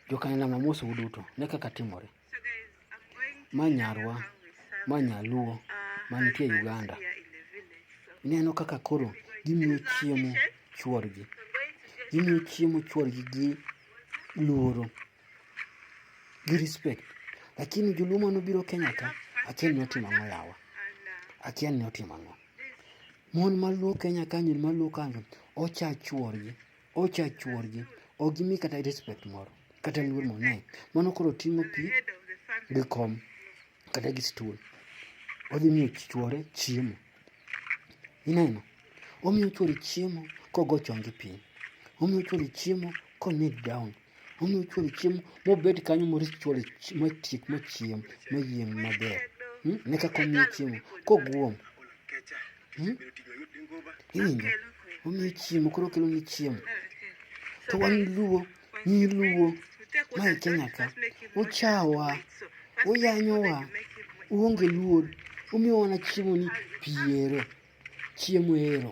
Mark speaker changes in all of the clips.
Speaker 1: Jokanyna mamoso uduto, ne kaka timore. Ma nyarwa, ma nyaluo, mantie Uganda. Ineno kaka koro gimiyo chiemo chworgi. Gimiyo chiemo chworgi gi luoro, gi respect. Lakini joluo mane obiro Kenya ka, akia ni otimo ang'o yawa. Akia ni otimo ang'o. Mon maluo Kenya kanyo, maluo kanyo, ocha chworgi. Ocha chuorgi, ok gimi kata respect moro, kata luor moro nae. Mano koro ting'o pi gi kom kata gi stool. Odhi miyo chuore chiemo. Ineno? Omiyo chuore chiemo kogo chonge piny. Omiyo chuore chiemo ko kneel down. Omiyo chwalo chiemo mobed kanyo morit chwalo matiek machiem mayieng' maber. Hmm? Ne kaka omiyo chiemo koguom. Hmm? Iwinjo? Omiyo chiemo koro kelo ni chiemo. To wan luo, nyi luo, mae Kenya ka, uchawa, uyanyowa, uonge luor, umiyo wana chiemo ni piero, chiemo ero.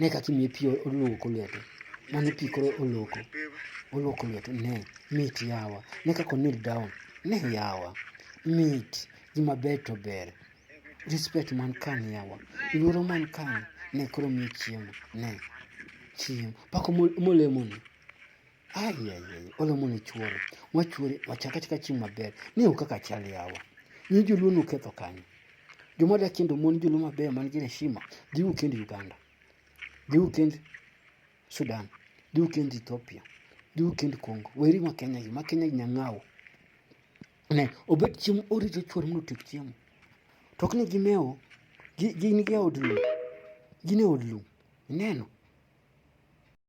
Speaker 1: Ne kaka imiye pi oluoko lwete. Mano pi koro oluoko. Oluoko lwete. Ne. Mit yawa. Ne kaka onil down. Ne yawa. Mit. Gima ber to ber. Respect man kan yawa. Luoro man kan. Ne koro miye chiemo. Ne. Chiemo. Pako molemoni. Ayayay, olo mondo ichuore. Wachuore, wacha kata ka chieng' maber. Ni ok kaka chal yawa. Ni joluo noketho kanyo. Joma da kendo mon joluo mabeyo man gi heshima, dhi ukend Uganda. Dhi ukend Sudan. Dhi ukend Ethiopia. Dhi ukend Congo. Weri ma Kenya gi, ma Kenya gi nyang'awo. Ne, obet chiemo orito chuore mondo otiek chiemo. To ok ni gimewo, gi- gin gi e od lum. Gin e od lum. Ineno?